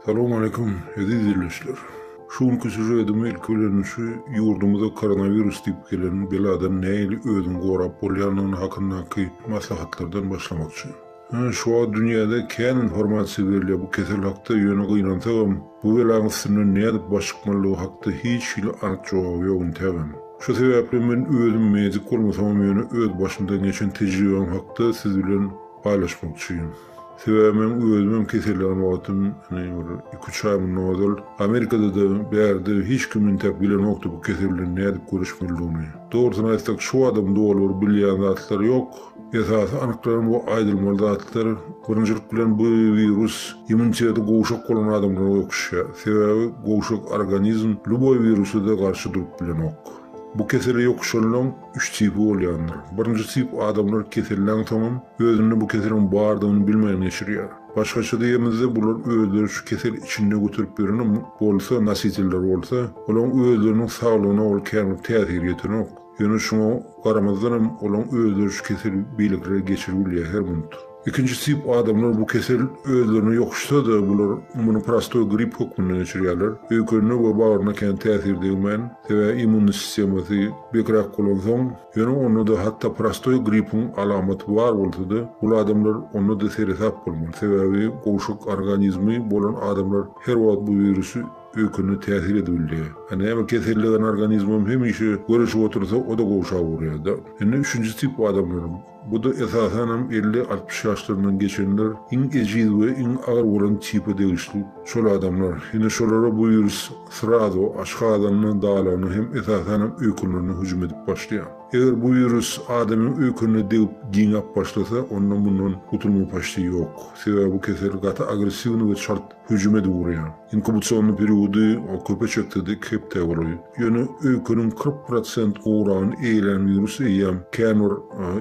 Salam aleýkum, eziz diýleşler. Şu günki süžedimi ilki bilen şu ýurdumyza koronawirus diýip gelen beladan nähili özüňi gorap bolýandygyny hakyndaky maslahatlardan başlamakçy. Şu wagt dünýäde kän informasiýa berilýär bu kesel hakda ýöne gynansagam Bu belaň üstünden nädip baş çykmalydygy hakda hiç hili anyk jogaby ýok intägem. Şu sebäpli men özüm medik bolmasamam ýöne öz başymdan geçen tejribäm hakda siz bilen paýlaşmakçyým. Sebäbi men özümem keselleňen wagtym ine bir iki üç aý mundan ozal Amerikadada bärde hiç kim intäk bilenokdy bu kesel bilen nädip göreşmelidigini. Dogrusyny aýtsak şu badam doly bir bilýän zatlar ýok. Esasy anyklan we aýdylmaly zatlar, birinjilik bilen bu wirus immuniteti gowşak bolan adamlara öküşýär. Sebäbi gowşak organizm lýuboý wirusa-da garşy durup bilenok. Bu kesele ýokuşanlaň üç tipi bolýandyr. Birinji tip adamlar keselden soňam özünde bu keseliň bardygyny bilmän geçirýär. Başgaça diýemizde bular özleri şu kesel içinde göterip ýören bolsa, nositelleri bolsa, olaň özleriniň saglygyna ol känbir täsir ýetenok. Ýöne şuňa garamazdanam olaň özleri şu keseli beýlekilere geçirip bilýär her minut. Ikinji tip adamlar bu kesel özlerine ýokuşsa-da bular muny prostoý grip hökmünde geçirýärler. Öýkenine we bagryna kän täsir degmän, sebä immunny sistemasy bekräk bolansoň, ýöne onda-da hatda prostoý gripiň alamaty bar bolsa-da bul adamlar onda-da seresap bolmaly, sebäbi gowşak organizmi bolan adamlar her wagt bu wirusy öýkene täsir edip bilýär. A näme kesellegan organizmem hemişe göreşip otursa o-da gowşap urýar-da. Indi üçünji tip adamlaram. Bu-da esasanam elli, altmyş ýaşlaryndan geçenler iň ejiz we iň agyr bolan tipe degişli şol adamlar. Indi şolara bu wirus srazu aşgazanyna, dalagyna hem esasanam öýkenlerine hüjüm edip başlaýar. Eger bu wirus adamyň öýkenine degip giňäp başlasa onda mundan gutulma paçti ýok. Sebäbi bu kesel gaty agressiwny we çalt Hüjüm edip urýar. Inkubasion periody köpe çekse-de iki hepdä golaý. Ýöne öýkeniň kyrk prosent oragyny eýelän wirus eýýäm kän bir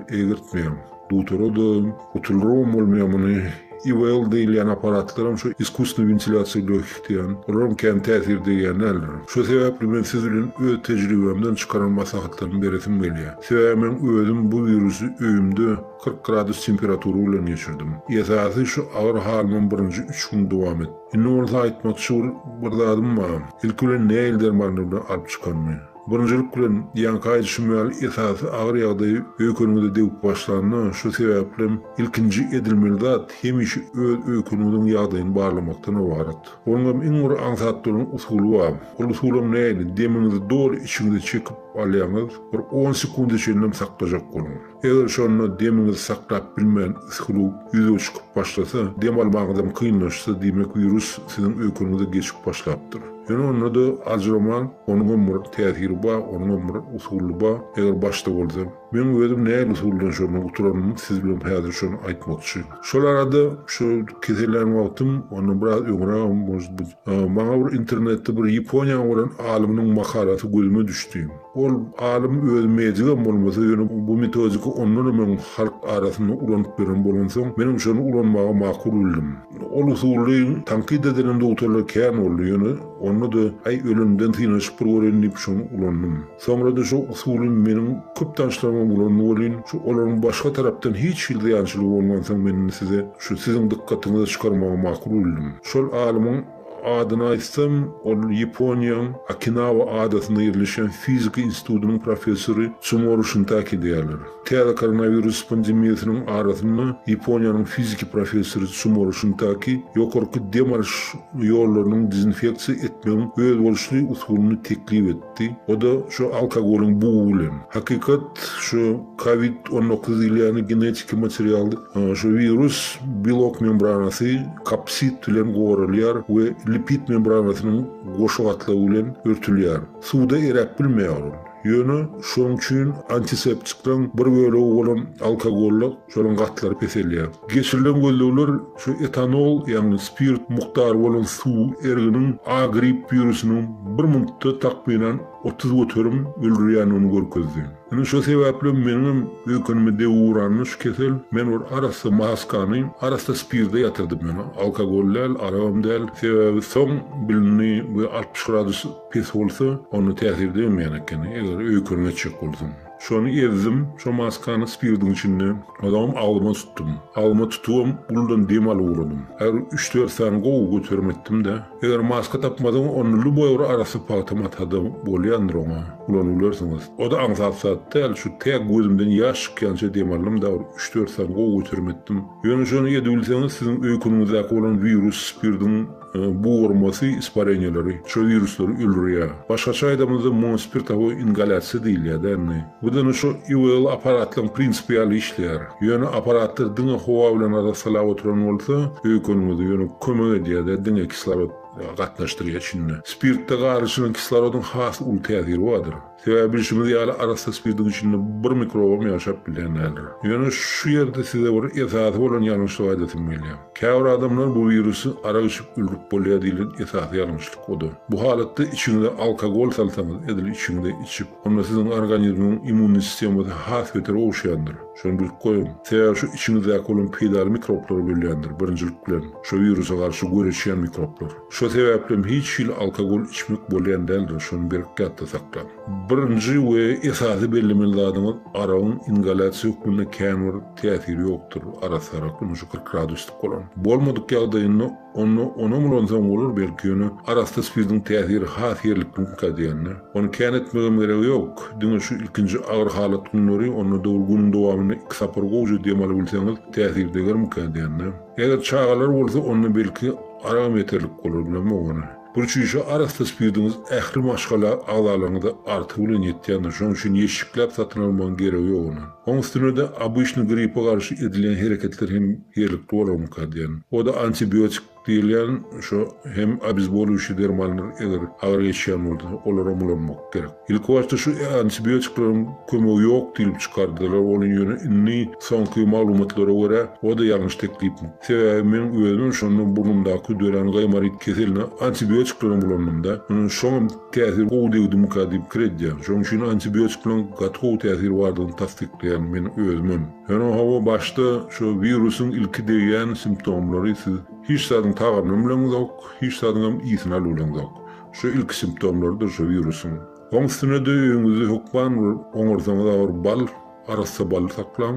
egirtmeýär. Dutara-da, gutuldyrawam bolmaýar muny. IVL diýilýän apparatlaram şu iskusnýy wentilýasiýa bökdýän. Olaram kän täsir degýän däldir. Şu sebäpli men siz bilen öz tejribämden çykaran maslahatlarymy beresim gelýär. Sebäbi men özüm bu wirusy öýümde, Kyrk gradus temperatura bilen geçirdim. Esasy şu agyr halymam birinji üç gün dowam etdi. Indi bolsa aýtmakçy bir bir zadym bar. Ilki bilen näil dermanlar bilen alyp çykanymy. Birinjilik bilen, ýaňky aýdyşym ýaly esasy agyr ýagdaý öýkeniňize degip başlanda, şu sebäplem ilkinji edilmeli zat hemişe öz öýkeniňiziň ýagdaýyny barlamakdan ybarat. Onuňam iň bir aňsat duran usuly bar. Ol usulam näil, demiňizi doly içiňize çekip alýaňyz, bir on sekunde çenlem saklajak boluň. Eger şonda demiňizi saklap bilmän siklug ýüze çykyp başlasa, dem almagyňyzam kynlaşsa, diýmek wirus siziň öýkeniňize geçip başlapdyr. Ýöne onda-da aljyramaň, onuňam bir täsiri bar, onuňam bir usuly bar, eger başda bolsa. Meň özüm nähili usuldan şonda guturanymy siz bilen häzir şony aýtmakçy. Şol arada şu kesellän wagtym, ondan biraz öňrägem, может быть, maňa bir internetde bir Ýaponiýanyň bolan alymynyň makalasy gözüme düşdi. Ol alym özi medikam bolmasa, ýöne bu metodika ondanam öň halk arasynda ulanyp ýören bolansoň, menem şony ulanmagy makul bildim. Ol usuly tankyt edilen dogtarlar kän boldy, ýöne onda-da, Aý, ölemden synanyşyp bir göreýin diýip, şony ulandym. Soňra-da şo usuly meniň köp tanyşlarymam ulandy welin, şu olaryň başga tarapdan hiç hili zyýançylygy bolmansoň, men indi size şu siziň dykgatyňyza çykarmagy makul bildim. Şol alymyň. Adyny aýtsam, ol Ýaponiýaň Okinawa adasynda ýerleşýän fizika institutynyň professory Tsumoro Şintaki diýýärler. Täze koronawirus pandemiýasynyň arasynda Ýaponiýanyň fiziki professory Tsumoro Şintaki ýokarky dem alyş ýollarynyň dezinfeksiýa etmegiň özboluşly usulyny teklip etdi. aýtdy. O-da şu alkogolyň bugy bilen. Hakykat, şu kowid on dokuz diýilýäni genetiki material, şu wirus belok membranasy, kapsid, bilen goralýar we lipid membranasynyň goşa gatlagy bilen örtülýär. Suwda eräp bilmeýär ol. Ýöne şonuň üçin antiseptikleň bir bölegi bolan alkogolla şonuň gatlary peselýär. Geçirilen gözlegler şu etanol, ýagny spirt mukdary bolan suw erginiň A gripp wirusiniň bir minutda takmynan otuz göterim öldürýändigini görkezdi. Indi şo sebäplem meniňem öýkenime degi uranda şu kesel men bir arassa maskany arassa spirde ýatyrdym ýöne alkogol däl, aragam däl, sebäbi soň bilindi we altmyş gradus pes bolsa onda täsir degmeýän ekeni eger öýken geçjek bolsaň. Şony ezdim, şo maskany spirdiň içinde, ozagam agzyma tutdum. Agzyma tutubam guldan dem alyp ugradym. Aýry üç-dört sany gowy göterim etdim-de. Eger maska tapmasaň, onda lüboýbir arassa pagtam ata-da bolýandyr oňa, ulanybilersiňiz. O-da aňsat zat däl, şu tä gözümden ýaş çykýança dem aldym-da bir üç-dört sany gowy göterim etdim. Ýöne şony edibilseňiz, siziň öýkeniňizdäki bolan wirus spirdiň. Bugarmasy ispareniýaleri şu wiruslar öldürýär. Başgaça aýdamyzda muňa spirtowoý ingalýasiýa diýilýär-dä indi. Bu diňe şu IVL apparatlaryň prinsipi ýaly işleýär. Ýöne apparatlar diňe howa bilen arassalap oturan bolsa, öýkeniňize ýöne kömek edýär-dä diňe kislorod gatnaşdyrýar içinde. Spirtde garyşylan kislorodyň has uly täsiri bardyr. Sebäbi bilşimiz ýaly arassa spirtiň içinde bir mikrobam ýaşap bilýän däldir. Ýöne şu ýerde size bir esasy bolan ýalňyşlygy aýdasym gelýär. Käbir adamlar bu wirusy arak içip öldürip bolýar diýlen esasy ýalňyşlyk o-da. Bu halatda içiňize alkogol salsaňyz edil içiňize içip, onda siziň organizmiňiň immunny sistemasy has beter oguşýandyr. Şony bilip goýuň. Sebäbi şu içiňizdäki bolan peýdaly mikroblary bölýändir, birinjilik bilen, şu wirusa garşy göreşýän mikroplar. Şo sebäplem hiç hili alkogol içmek bolýan däldir, şony berk ýatda saklaň. Birinji we esasy bellemeli zadyňyz, aragyň ingalýasiýa hökmünde känbir täsiri ýokdur, arassa arak ünji kyrk graduslyk bolan. Bolmadyk ýagdaýynda onda onam ulansaň bolar belki, ýöne arassa spirtiň täsiri has ýerlikliňkä degende, ony kän etmegem geregi ýok. Diňe şu ilkinji agyr halat günleri, onda dogry günüň dowamynda iki sapar gowja dem alybilseňiz, täsiri degermikä degende. Eger çagalar bolsa onda belki aragam ýeterlik bolar bilemok ony. Bir çüýşe arassa spirtiňiz ähli maşgala agzalaryňyza artygy bilen ýetýändir, şonuň üçin ýeşikläp satyn almagyň geregi ýok ony. Oň üstüne-de obyçny gripa garşy edilýän hereketler hem ýerlikli bolarmyka diýen. O-da antibiotik diýilýän şo hem obezbolyuýşi dermanlar eger agyr geçýän bolsa olaram ulanmak gerek. Ilkibaşda şu antibiotikleriň kömegi ýok diýlip çykardylar ony ýöne indi soňky maglumatlara görä oda ýalňyş teklip. Sebäbi meň özümem şonda burnumdaky dörän gaýmaryt keseline antibiotiklerem ulandymda ynha şoňam täsir gowy degdimika diýip pikir edýän şoň üçin antibiotikleň gaty gowy täsir bardygyny tassyklaýan men özümem. Ýöne hawa başda şo wirusyň ilki degýän simptomlary siz hiç zadyň tagamyny bileňizok hiç zadyňam ysyny alybileňizok Şu ilki simptomlardyr şu wirusyň. Oň üstünede öýüňizde hökman bir oňarsaňyzam bir bal, arassa baly saklaň.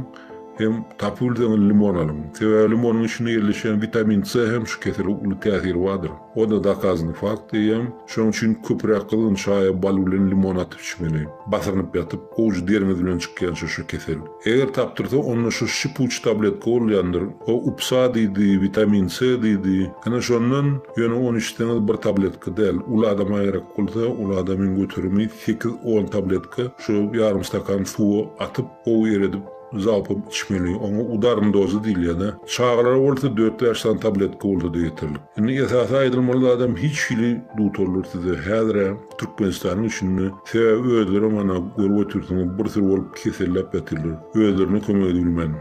Hem tapyp bilseňiz limon alyň. Sebäbi limonyň içinde ýerleşýän witamin C hem şu kesele uly täsiri bardyr. O-da dokazanyý fakt diýýän. Şonuň üçin köpräk gyzgyn çaýa bal bilen limon atyp içmeli. Basyrynyp ýatyp, owujy deriňiz bilen çykýança şu kesel. Eger tapdyrsa onda şu şipuç tabletka bolýandyr, o upsa diýdi, witamin C diýdi, ene şondan, ýöne ony içseňiz bir tabletka däl, uly adama gerek bolsa, uly adamyň göterimi sekiz on tabletka şu ýarym stakan suwa atyp gowy eredip zalpam içmeli, oňa udarn dozy diýilýäda, çagalara bolsa dört bäş sany tabletka bolsada ýeterlik. Indi esasy aýdylmaly zadam hiç hili dutarlar size häzirä, Türkmenistanyň içinde sebäbi özleri mana görüp otyrsyňyz bir sürü bolup keselläp ýatyrlar özlerine kömek edilmän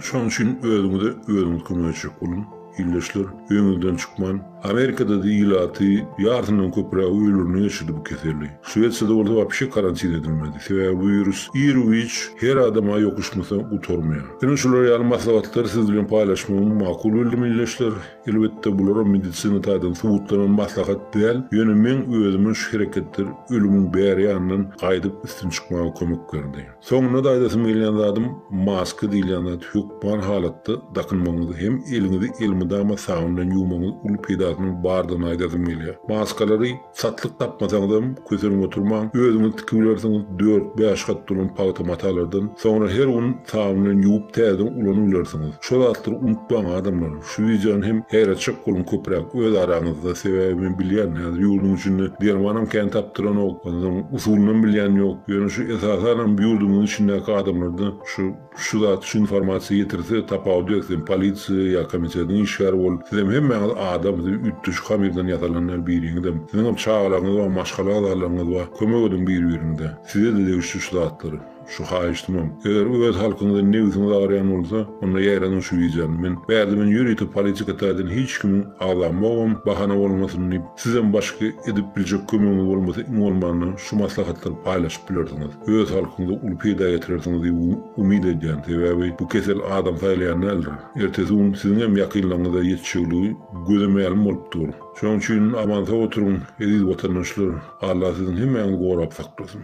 şoň üçin özüňize özüňiz kömek etjek boluň ildeşler öýüňizden çykman Amerikada da ilaty ýarysyndan köpürägi öýlerinde geçirdi bu keseli Şwesiýada bolsa wapşe karantin edilmedi sebäbi bu wirus ir wiç her adama ýokuşmasa gutarmaýar ine şular ýaly maslahatlary siz bilen paýlaşmagymy makul bildim ildeşler. Elbetde bular medisina taýdan subutlanan maslahat däl, ýöne meň özüme şu hereketler ölümiň bäri ýanyndan gaýdyp üstün çykmaga kömek berdi. Soňundan aýdasym gelýän zadym, maska diýilýän zat hökman halatda dakynmagyňyz hem eliňizi elmydama sabyn bilen ýuwmagyňyz uly peýdasynyň bardygyny aýdasym gelýär. Maskalary. Satlyk tapmasaňyzam, kösenip oturmaň, özüňiz tikip bilersiňiz, dört-bäş gat dolan pagta matalardan. Soňra her gün sabyn bilen ýuwup täzeden ulanyp bilersiňiz. Şu zatlary unutmaň, adamlar! Şu wideony hem aýratjak boluň köpräk öz araňyzda, sebäbi men bilýän, häzir ýurduň içinde dermanam kän tapdyranok, onsoň usulynam bilýän ýok. Ýöne şu esasanam ýurdumyzyň içindäki adamlarda şu. Şu zat şu informasiýa ýetirse tapawudy ýok sen polisiýa ýa komitediň işgäri bol sizem hemmäňiz adam siz üýtgeşik hamyrdan ýasalanlar biriňizem siziňem çagalaryňyz bar maşgala agzalaryňyz bar kömek ediň bir biriňize sizede degişli şu zatlar şu haýyştymam eger öz halkyňyza nebsiňiz agyrýan bolsa onda ýaýradyň şu wideony men bärde men ýörite politika taýdan hiç kimiň agzamogam bahana bolmasyn diýip sizem başga edip biljek kömegiňiz bolmasa iň bolmanda şu maslahatlary paýlaşyp bilersiňiz. öz halkyňyza uly peýda ýetirersiňiz diýip umyt edýän, sebäbi bu kesel adam saýlaýan däldir. Ertesi gün siziň hem ýakynlaryňyza ýetişegligi göze mälim bolup dur. Şonuň üçin aman-sag oturyň, eziz watandaşlar, Alla siziň hemmäňizi gorap saklasyn.